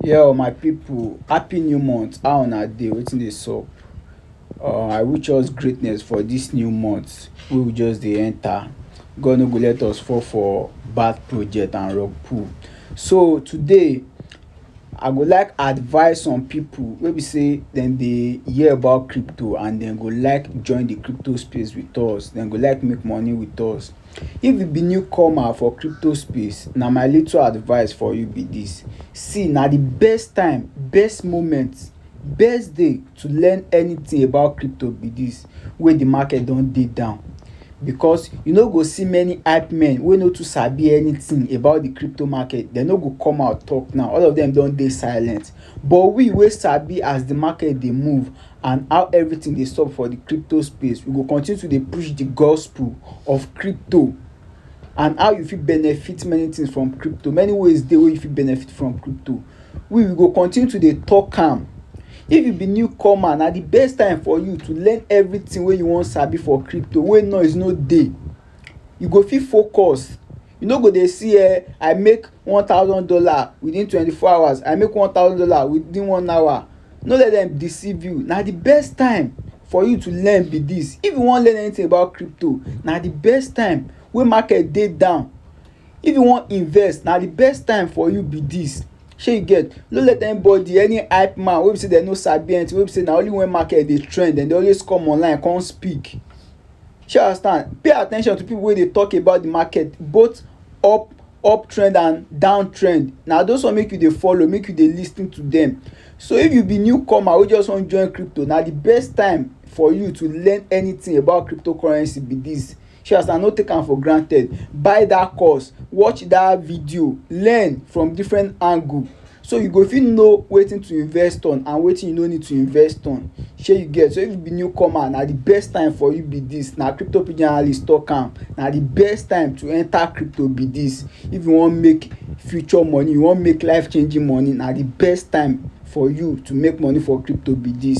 Yo my people happy new month how una dey wetin dey sup um I wish us greatness for this new month wey we just dey enter God no go let us fall for bad project and wrong pull so today I go like advice some people wey be say dem dey hear about crypto and dem go like join the crypto space with us dem go like make money with us If you be new comer for crypto space, na my little advice for you be dis. See na de best time, best moment, best day to learn anything about crypto be dis wey de market don dey down because you no go see many hype men wey no too sabi anything about de crypto market. Dey no go come out talk now. All of dem don dey silent. But we wey sabi as de market dey move and how everything dey sup for the crypto space, we go continue to dey push the gospel of crypto and how you fit benefit many things from crypto. Many ways dey wey you fit benefit from crypto. We we go continue to dey talk am. If you be new comer, na the best time for you to learn everything wey you wan sabi for crypto wey noise no dey. You go fit focus You no go dey see eh, I make one thousand dollar within twenty four hours, I make one thousand dollar within one hour. No let them deceive you. Na the best time for you to learn be this. If you wan learn anything about crypto, na the best time wey market dey down. If you wan invest, na the best time for you be this. Shey you get? No let anybody, any hype man wey be say dem no sabi anything, wey be say na only when market dey trend dem dey always come online come speak. Shey you understand pay at ten tion to pipu wey dey talk about de market both up up trend and down trend na those one make you dey follow make you dey lis ten to dem. So if you be new comer wey just wan join crypto na de best time for you to learn anything about crypto currency be dis shey you understand no take am for granted buy dat course watch dat video learn from different angle. So you go fit know wetin to invest on and wetin you no need to invest on. Shey you get? So if you be new comer, na the best time for you be dis. Na crypto pidgin analyst talk am. Na the best time to enter crypto be dis. If you wan make future money, you wan make life changing money, na the best time for you to make money for crypto be dis.